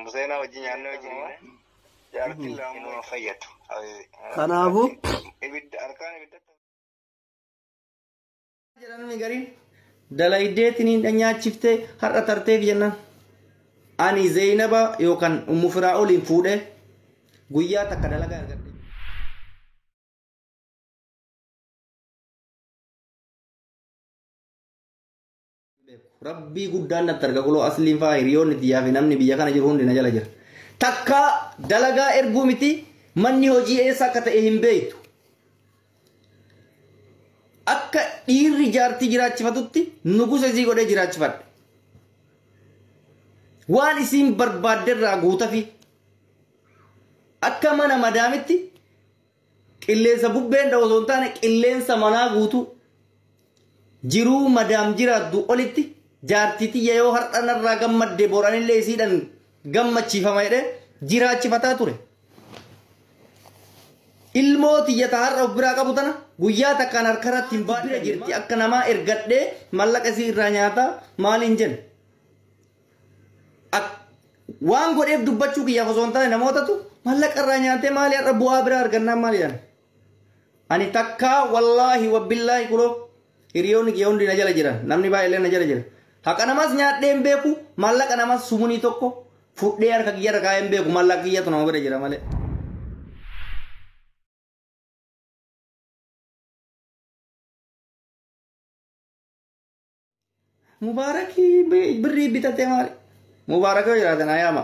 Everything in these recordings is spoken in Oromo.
Museenaa wajjin nyaannee wajjin jaartiin lama nama fayyadu. Kanaafuu. Ibidda harkaan ibidda. Jedhamni gariin dalaydeetiniin dhanyaachifte har'a tarteef jennaan. Ani Zeeynaba yookaan Ummu Firaa'oliin fuudhee guyyaa takka dalagaa argadhe. Rabbii guddaan natti arga kuloo asliin faa hiriyoonni tiyyaa fi namni biyya kana jiru hundi na jala jira. Takkaa dalagaa erguu miti manni hojii eessa akka ta'e hin beektu. Akka dhiirri jaartii jiraachifatutti nugusa isii godhee jiraachifadhe. Waan isiin barbaadde irraa guutafi. Akka mana madaamitti Qilleensa bubbeen dha'u osoo hin taane qilleensa manaa guutuu. Jiruu madaam jiraattu olitti jaartii tiyya yoo har'a narraa gammadde boranillee isiidhan gammachiifama jedhee jiraachifataa ture. Ilmoo tiyya ta har'a of biraa qabu tana guyyaa takkaan harkarratti hin baadhee jirti akka namaa ergadhee mallaqa isii irraa nyaataa maaliin jenna. Ak- waan godheef dubbachuu kiyyaaf osoo hin taane namootatu mallaqa irraa nyaatee maali har'a bu'aa biraa argannaan maali jedhan. Ani takkaa wallaahi wabbillaahi kunoo hiriyoonni kiyya hundi na jala jiran namni baay'ee na jala jira. Haqa namas nyaadhee hin beeku maallaqa namas sumunii tokko fudhee harka kiyya irra kaa'ee hin beeku maallaqa kiyyatu nama bira jira malee. Mubaarakii birrii bitatee maali? Mubaarak yoo jiraate naa yaama.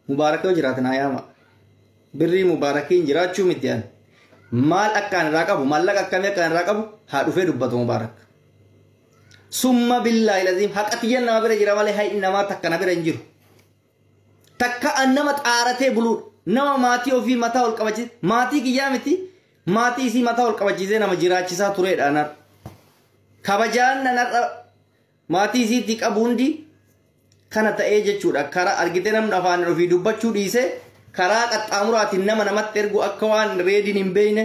Mubaarak yoo jiraate naa yaama. Birrii mubaarakiin jiraachuu miti ani. Maal akkaan irraa qabu maallaqa akkamii akkaan irraa qabu haa dhufee dubbatu mubaarak. Summa billaahi laziim haqa tiyyan nama bira jira malee hayi namaa takka na bira hin jiru. Takka an nama xaaratee buluudha. Nama maatii ofii mataa ol qabachiise, maatii kiyyaa miti, maatii isii mataa ol qabachiisee nama jiraachisaa tureedha an har'a. Kabajaan an har'a maatii isiitii qabu hundi kana ta'ee jechuudha. Karaa argitee namni afaan ofii dubbachuu dhiisee karaa qaxxaamuraatiin nama namatti ergu akka waan reediin hin beekne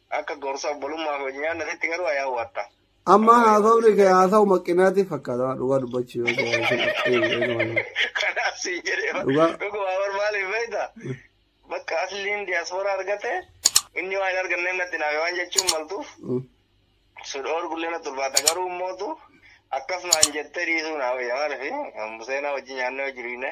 akka gorsa obbolummaa fi wajjin nyaannatitti garuu ayaa huwatta. Amma haasawni kee haasawu maqqinaatiif fakkaata dhugaa dubbachuu yoo ta'e. Kanaaf si jedhee Dhugaa. dhugumaa bar maaliif beekta? Bakka asliin diyaaspooraa argate inni waan hin arganne natti naafe waan jechuun maltuuf sudhoor gullee natti ulfaata garuu mootu akkasumaan jettee dhiisuu naa wayya maaliif museenaa wajjin nyaannee hojii dhiine.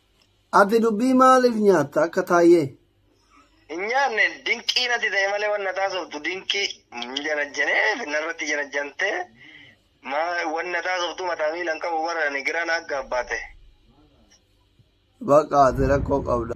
Ati dubbii maaliif nyaatta akka taayyee? Hin nyaanne dinqii natti ta'e malee wanna taasoftu dinqii hin janajjanee finnarratti janajjantee maa wanna taasoftu mataa miila hin qabu bara ani giraa na aggaabbaate. Baqa ati rakkoo qabda.